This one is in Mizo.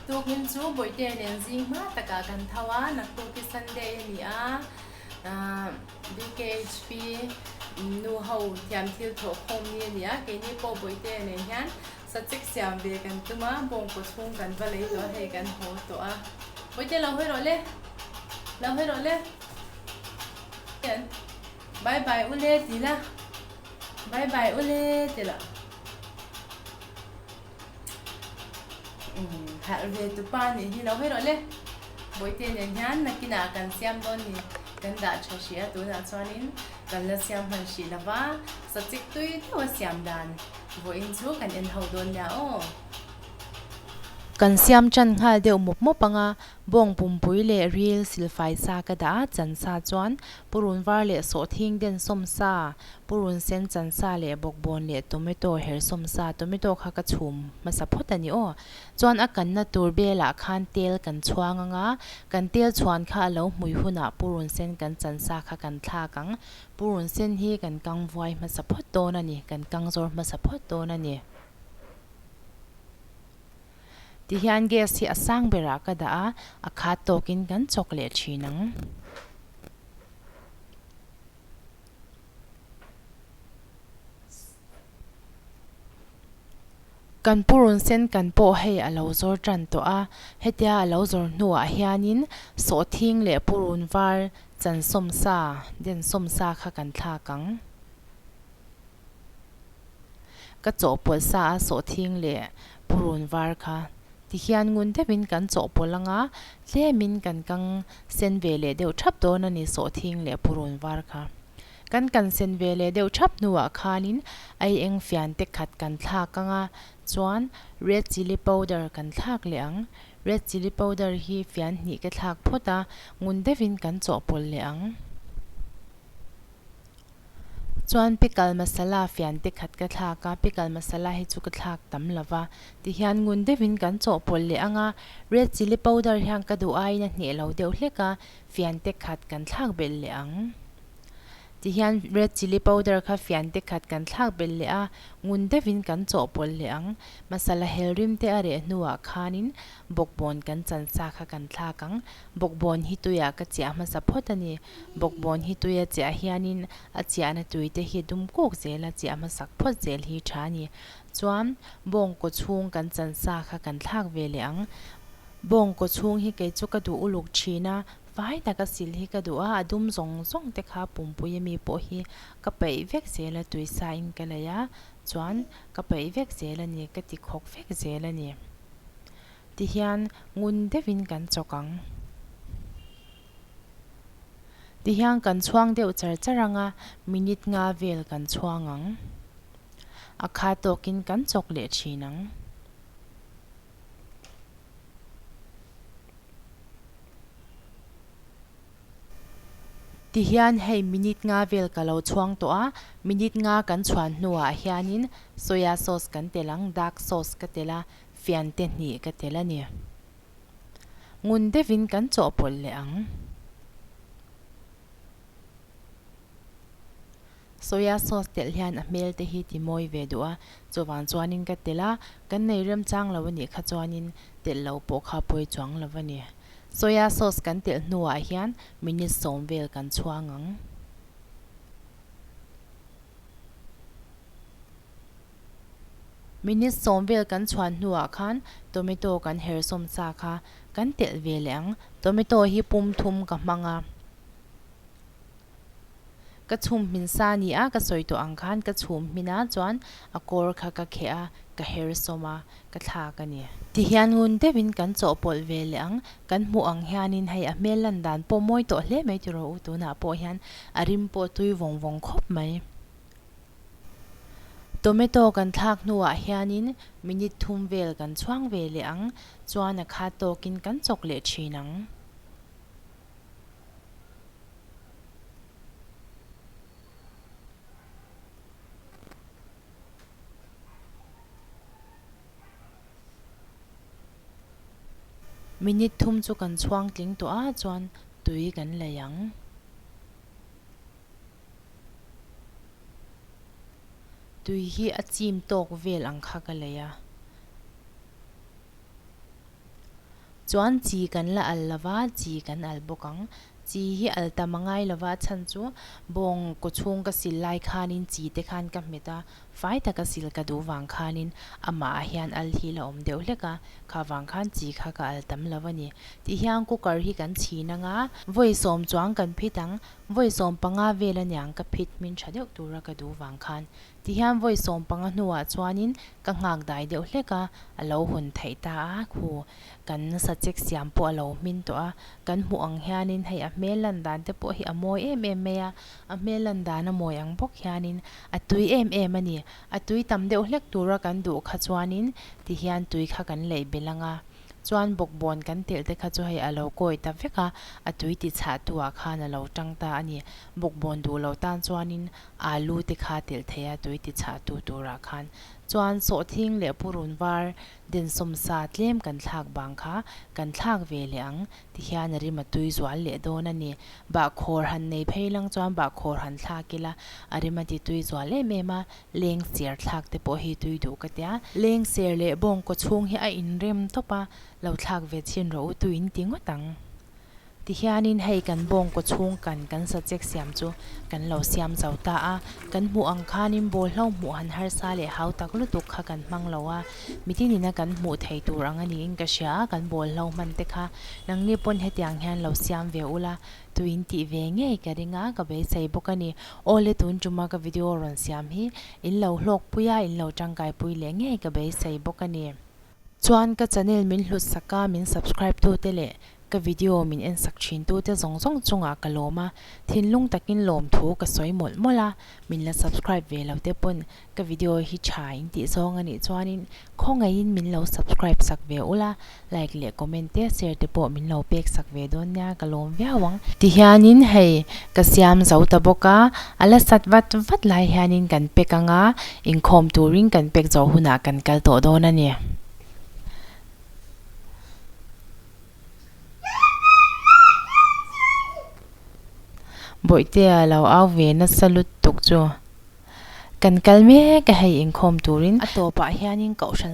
Tukin chu Bawihte nen zing hma takah kan tho a, naktuk hi Sunday a ni a, BKHP nu ho thiam thil thawh khawm ni a ni a, keini pawh Bawihte nen hian Sachik siam ve kan tum a, bawngkaw chhung kan va lei tawh a, hei kan haw tawh a. Puite lo hawi rawh le, lo hawi rawh le. Hian bye bye u le ti la, bye bye u le ti la. Umm harh ve tu pa nih hi, lo hawi rawh le. Puite nen hian nakinah kan siam dawn ni kan dah tha hrih a, tunah chuanin kan la siam hman hrih lova, sachik tui teuh a siam dan. Vawiin chu kan en ho dawn nia aw. Kan siam tan nghal deuh mawp mawp anga bawng pumpui leh ril silfai sa ka dah a, chansa chuan purun var leh sawhthing den sawmsa, purun sen chansa leh bawkbawn leh tomato her sawmsa, tomato kha ka chhum hmasa phawt a ni aw. Chuan a kanna tur belah khan tel kan chhuang anga kan tel chhuan kha a lo hmui hunah purun sen kan chansa kha kan thlak ang, Purun sen hi kan kang vuai hmasa phawt dawn a ni, kan kang zawr hmasa phawt dawn a ni. Ti hian gas hi a sang berah ka dah a, a khat tawkin kan chawk leh thin ang. Kan purun sen kan pawh hei a lo zawr tan tawh a, hetia a lo zawr hnuah hianin sawhthing leh purun var chansawmsa, densawmsa kha kan thlak ang. Ka chawhpawlh sa a sawhthing leh purun var kha. Tihian ngun deuhin kan chawhpawlh anga tlemin kan kang sen ve leh deuh thap dawn a ni sawhthing leh purun var kha. Kan kan sen ve leh deuh thap hnuah khanin ai eng fian te khat kan thlak anga chuan red chilli powder kan thlak leh ang. Red chilli powder hi fian hnih ke thlak phawt a, ngun deuhin kan chawhpawlh leh ang. Chuan pickle masala fian te khat ka thlak a, pickle masala hi chu ka thlak tam lo va. Tihian ngun deuhin kan chawhpawlh leh ang a, red chilli powder hian ka duh aiin a hneh lo deuh hlek a, fian te khat kan thlak belh leh ang. Tihian red chilli powder kha fian te khat kan thlak belh leh a, ngun deuhin kan chawhpawlh leh ang. Masala hel rim te a reh hnuah khanin bawkbawn kan chansa kha kan thlak ang. Bawkbawn hi tuiah ka chiah hmasa phawt a ni. Bawkbawn hi tuia chiah hianin a chiahna tui te hi dum kuk zel a, chiah hmasak phawt zel hi tha a ni. Chuan bawngkaw chhung kan chansa kha kan thlak ve leh ang. Bawngkaw chhung hi kei chu ka duh uluk thin a. Vai tak a sil hi ka duh a, a dum zawng zawng te kha pumpui a mi pawh hi ka peih vek zel a tui sa in ka lei a, chuan ka peih vek zel a ni, ka ti khawk vek zel a ni ti hian ngun deuh in kan chawk ang ti hian kan chhuang deuh char char ang a, minute nga vel kan chhuang ang a kha tawk in kan chawk leh thin ang. Tihian hei minute nga vel ka lo chhuang tawh a, minute nga kan chhuan hnuah hianin soya sauce kan tel ang, dark sauce ka tel a, fian te hnih ka tel a ni. Ngun deuhin kan chawhpawlh leh ang. Soya sauce telh hian a hmel te hi ti mawi ve duh a, chuvang chuanin ka telh a, kan nei rem chang lo a nih kha chuanin telh loh pawh kha pawi chuang lo a ni. Soya sauce kan telh hnuah hian minute sawm vel kan chhuang ang. Minute sawm vel kan chhuan hnuah khan tomato kan her sawm sa kha kan telh ve leh ang. Tomato hi pum thum ka hmang a. Ka chhum hmin sa ni a, ka sawi tawh ang khan ka chhum hmin ah chuan a kawr kha ka kheh a, ka her sawm a, ka thlak a ni. Ti hian ngun deuh in kan chawhpawlh ve leh ang, kan hmuh ang hian in hei a hmel lan dan pawh mawi tawh hle mai ti rawh u, tun ah pawh hian a rim pawh tui vawng vawng khawp mai. Tomato kan thlak hnu ah hian in minute thum vel kan chhuang ve leh ang, chuan a khat tawk in kan chawk leh thin ang. Minute thum chu kan chhuang tling tawh a chuan tui kan lei ang. Tui hi a chim tawk vel ang kha ka lei a. Chuan chi kan la al lo va, chi kan al bawk ang. Chi hi al tam a ngai lo va, a chhan chu bawng kawchhung ka sil lai khanin chi te khan ka hmet a, fai taka sil ka duh vang khanin amahah hian al hi la awm deuh hlek a, kha vang khan chi kha ka al tam lo a ni. Tih hian cooker hi kan chhin ang a, vawi sawm chuang kan phit ang, vawi sawm panga vel aniang ka phit hmin tha deuh tura ka duh vang khan Tihian vawi sawm panga hnuah chuanin ka nghakdai deuh hlek a, a lo hun theih ta a, khu kan sachek siam pawh a lo hmin tawh a, kan hmuh ang hianin hei a hmel lan dan te pawh hi a mawi em em mai a, a hmel lan dan a mawi ang bawk hianin a tui em em a ni, a tui tam deuh hlek tura kan duh kha chuanin tihian tui kha kan lei belh ang a, chuan bawkbawn kan telh te kha chu hei a lo kawi ta vek a, a tui ti chhah tu ah khan a lo tang ta a ni, bawkbawn duh loh tan chuanin Alu te kha telh thei a, tui ti chhah tu turah khan chuan sawhthing leh purun var den sawm sa tlem kan thlak bang kha kan thlak ve leh ang ti hian a rim a tui zual leh dawn a ni. Bahkhawr han nei phei lang chuan bahkhawr han thlak ila, a rim a ti tui zual em em a, leng ser thlak te pawh hi tui duh ka tia, leng ser leh bawngkaw chhung hi a inrem tawp a, lo thlak ve chin rawh u tui'n ti ngawt ang. Tihianin hei kan bawngkaw chhungkan kan sa check siam chu kan lo siam zo ta a, kan hmuh ang khanin bawl hlo hmuh han harsa leh hau tak lutuk kha kan hmang lo a, mite nina kan hmuh theih tur ang a niin ka hria a, kan bawl hlo hman te kha nang nge pawn hetiang hian lo siam ve u la, tui in tih ve ngei ka ring a, ka beisei bawk a ni, awle tun tuma ka video rawn siam hi in lo hlawkpuia in lo tangkaipui leh ngei ka beisei bawk a ni. Chuan ka channel min hlutsak a, min subscribe tu te leh ka video min en sak thin tu te zawng zawng chungah ka lawm a, thinlung takin lawm thu ka sawi mawlh mawlh a, min la subscribe ve lo te pawn ka video hi tha intih zawng a nih chuanin khawngaihin min lo subscribe sak ve ula, like leh comment te share te pawh min lo pek sak ve dawn nia ka lawm viau ang. Ti hianin hei ka siam zo ta bawk a, a la sat vat vat lai hianin kan pek ang a, Inkhawm turin kan pek zo hunah kan kal tawh dawn a ni. Bawihtea lo au ve nasa lutuk chu kan kal mek a hei inkhawm turin. A tawpah hianin kohhran.